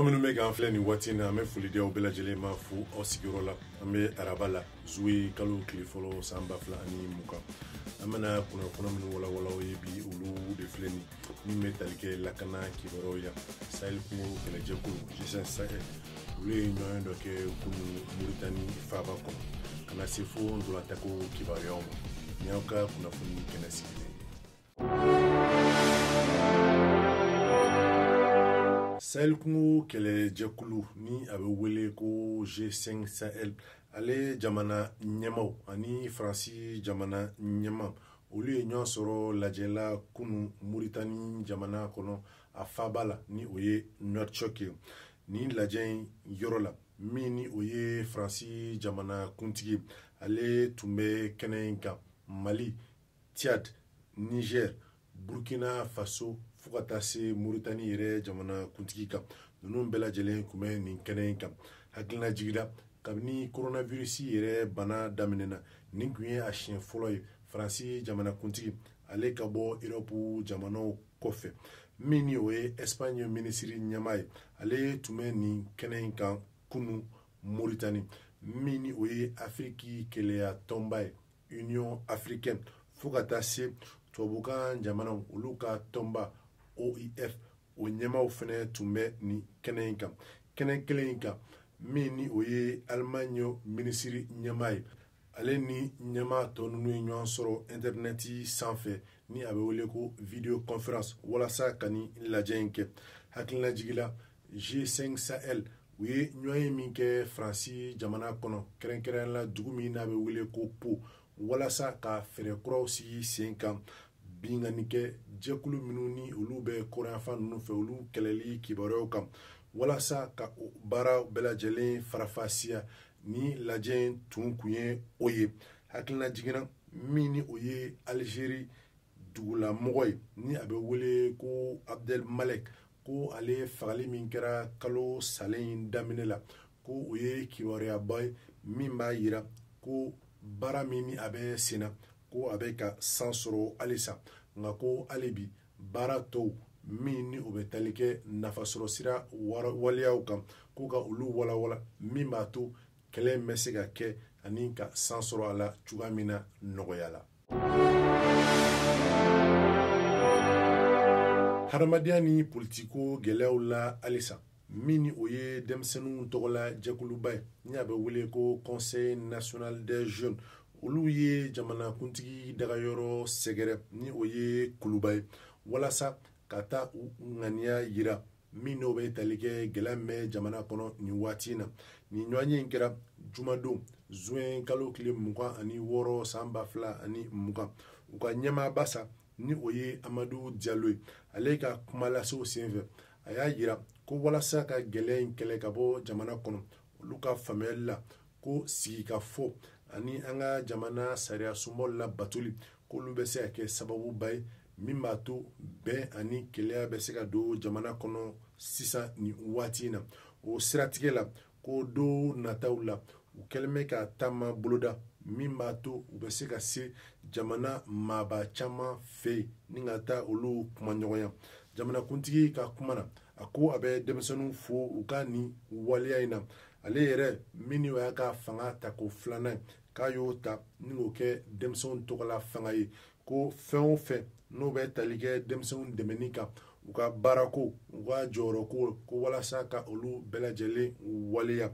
aw minnu bɛ k'an filɛ nin waati na an bɛ foli di aw bɛɛ lajɛlen ma fo aw sigiyɔrɔ la an bɛ araba la zuwe kalo tile fɔlɔ san ba fila ani mugan an bɛna kunnafoni minnu walawala aw ye bi olu de filɛ nin min bɛ tali kɛ lakana kibaruyaw yan sahel kungo kɛlɛjɛkulu g5 sahel olu ye ɲɔgɔnye dɔ kɛ kunu moritani faaba kɔnɔ ka na se fo ntolatanko kibaruyaw ma nin y'aw ka kunnafoni kɛnɛ sigilen sahel kungo kɛlɛjɛkulu ni a bɛ wele ko g5 sahel ale jamana ɲɛmaaw ani faransi jamana ɲɛmaa olu ye ɲɔgɔn sɔrɔ lajɛ la kunu moritani jamana kɔnɔ a faaba la ni o ye nouakchott ye nin lajɛ in yɔrɔ la min ni o ye faransi jamana kuntigi ale tun bɛ kɛnɛ in kan mali Tchad, Niger, Burkina Faso fo ka taa se Mauritanie yɛrɛ jamana kuntigi kan ninnu bɛɛ lajɛlen tun bɛ nin kɛnɛ in kan hakilinajigi la kabini coronavirus yɛrɛ bana daminɛna nin tun ye a siɲɛ fɔlɔ ye faransi jamana kuntigi ale ka bɔ europe jamanaw kɔfɛ min ni o ye espagne minisiri ɲɛmaa ye ale tun bɛ nin kɛnɛ in kan kunu moritani min ni o ye afiriki kelenya tɔnba ye union africaine fo ka taa se tubabukan jamanaw olu ka tɔnba oif o ɲɛmaaw fɛnɛ tun bɛ nin kɛnɛ in kan kɛnɛ kelen in kan min ni o ye alimaɲi minisiri ɲɛmaa ye ale ni ɲɛmaa tɔ ninnu ye ɲɔgɔn sɔrɔ intɛrinɛti sanfɛ ni a bɛ wele ko video conference walasa ka nin lajɛ in kɛ hakililajigi la g5 sahel u ye ɲɔgɔnye min kɛ faransi jamana kɔnɔ kɛrɛnkɛrɛn la dugu min n'a bɛ wele ko pau walasa ka fɛɛrɛ kuraw sigi sen kan binkannikɛjɛkulu minnu ni olu bɛ kɔrɔnyanfan ninnu fɛ olu kɛlɛli kibaruyaw kan walasa ka baara bɛɛ lajɛlen faranfasiya nin lajɛ in tun kun ye o ye hakilinajigin na min ni o ye alizeri dugulamɔgɔ ye ni a bɛ wele ko abdel malek ko ale fagali min kɛra kalo salen in daminɛ la ko o ye kibaruyaba ye min b'a yira ko baara min ni a bɛ sen na ko a bɛ ka san sɔrɔ halisa nka ko hali bi baara tɔw min ni o bɛ tali kɛ nafasɔrɔsira waleyaw kan ko ka olu walawala min b'a to kɛlɛ in bɛ se ka kɛ ani ka san sɔrɔ a la cogoya min na nɔgɔya la hadamadenya ni politiko gɛlɛyaw la halisa min ni o ye denmisɛnninw tɔgɔla jɛkuluba ye ni a bɛ wele ko conseil national des jeunes olu ye jamanakuntigi dagayɔrɔ sɛgɛrɛ ni o ye kuluba ye walasa ka taa u ŋaniya yira min n'o bɛ tali kɛ gɛlɛya min bɛ jamana kɔnɔ nin waati in na nin ɲɔgɔnye in kɛra jumadon zuwɛn kalo tile mugan ani wɔɔrɔ san ba fila ani mugan u ka ɲɛmaaba sa ni o ye amadu jalo ye ale ka kumalasew senfɛ a y'a yira ko walasa ka gɛlɛya in kɛlɛ ka bɔ jamana kɔnɔ olu ka faamuyali la ko sigikafɔ ani an ka jamana sariya sunbaw labatoli k'olu bɛ se ka kɛ sababuba ye min b'a to bɛn ani kelenya bɛ se ka don jamana kɔnɔ sisan nin waati in na o siratigɛ la ko don nataw la u kɛlen bɛ ka taama boloda min b'a to u bɛ se ka se jamana maaba caman fɛ yen ni ka taa olu kumaɲɔgɔnya jamanakuntigi ka kuma na a ko a bɛ denmisɛnninw fo u ka nin waleya in na ale yɛrɛ min ni o y'a ka fanga ta ko filanan ye k'a y'o ta ni k'o kɛ denmisɛnw tɔgɔla fanga ye ko fɛn o fɛn n'o bɛ tali kɛ denmisɛnw dɛmɛni kan u ka baarako u ka jɔyɔrɔko ko walasa ka olu bɛɛ lajɛlen waleya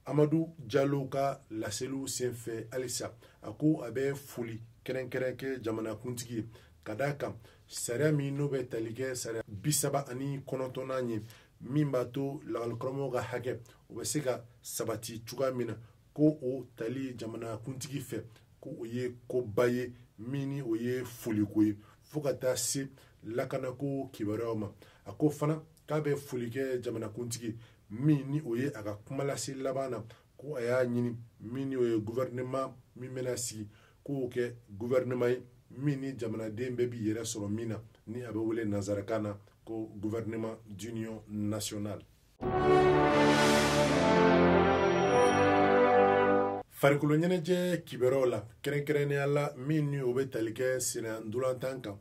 amadu jalo ka laseliw senfɛ halisa a ko a bɛ foli kɛrɛnkɛrɛn kɛ jamanakuntigi ye ka d'a kan sariya min n'o bɛ tali kɛ sariya bi saba ani kɔnɔntɔnnan ye min b'a to lakalikaramɔgɔw ka hakɛ o bɛ se ka sabati cogoya min na ko o tali jamanakuntigi fɛ ko o ye koba ye min ni o ye foliko ye fo ka taa se lakanako kibaruyaw ma a ko fana k'a bɛ foli kɛ jamanakuntigi min ni o ye a ka kumalase laban na ko a y'a ɲini min ni o ye guvɛrɛnɛman min bɛna sigi k'o kɛ guvɛrɛnɛman ye min ni jamanaden bɛɛ b'i yɛrɛ sɔrɔ min na ni a bɛ wele nanzarakan na ko gouvernement d'union nationale farikolo ɲɛnajɛ kibaruyaw la kɛrɛnkɛrɛnnenya la min ni o bɛ tali kɛ senna ntolantan kan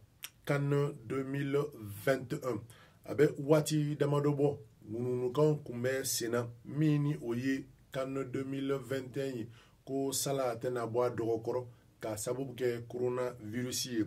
CAN 2021 a bɛ waati damadɔ bɔ ŋununukanw kun bɛ senna min ni o ye CAN 2021 ye ko sala a tɛna bɔ a dɔgɔ kɔrɔ k'a sababu kɛ koronavirisi ye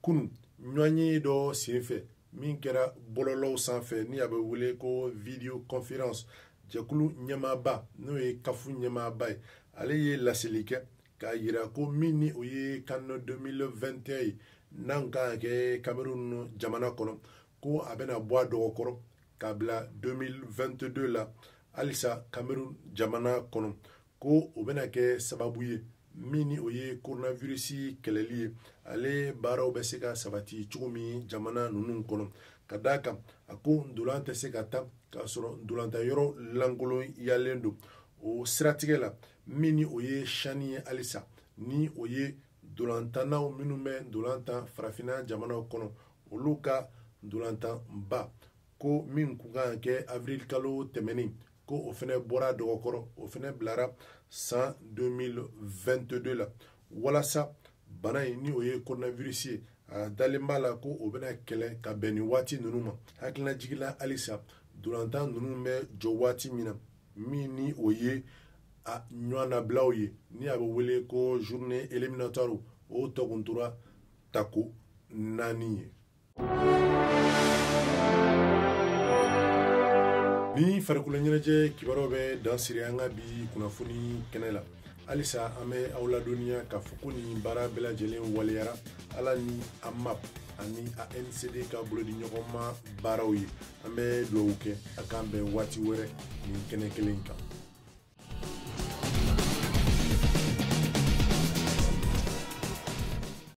kunu ɲɔgɔnye dɔ senfɛ min kɛra bɔlɔlɔw sanfɛ ni a bɛ wele ko video conference jɛkulu ɲɛmaaba n'o ye kafu ɲɛmaaba ye ale ye laseli kɛ k'a yira ko min ni o ye can 2021 ye n'a kan ka kɛ cameroun jamana kɔnɔ ko a bɛna bɔ a dɔgɔ kɔrɔ k'a bila 2022 la halisa cameroun jamana kɔnɔ ko o bɛna kɛ sababu ye min ni o ye koronavirisi kɛlɛli ye ale baaraw bɛ se ka sabati cogo min jamana ninnu kɔnɔ ka d'a kan a ko ndolan tɛ se ka tan k'a sɔrɔ ndolantan yɔrɔ lankolonyalen don o siratigɛ la min ni o ye chan ye halisa ni o ye ndolantannaw minnu bɛ ndolan tan farafinna jamanaw kɔnɔ olu ka ndolantanba ko min kun kan kɛ avril kalo tɛmɛnen ko o fɛnɛ bɔra dɔgɔkɔrɔ o fɛnɛ bilara san 2022 la walasa bana in ni o ye coronavirus ye a dalen b'a la ko o bɛna kɛlɛ ka bɛn ni waati ninnu ma hakililajigi la halisa ndolantan ninnu bɛ jɔ waati min na min ni o ye a ɲɔgɔnnabilaw ye ni a bɛ wele ko journée éliminatoire o tɔ kun tora tako naani ye ni farikolo ɲɛnajɛ kibaruw bɛ dan siri an ka bi kunnafoni kɛnɛ la halisa an bɛ aw ladɔnniya k'a fɔ ko nin baara bɛɛ lajɛlen waleyara ala ni amap ani ancd ka bolodiɲɔgɔnma baaraw ye an bɛ dugawu kɛ a k'an bɛn waati wɛrɛ nin kɛnɛ kelen kan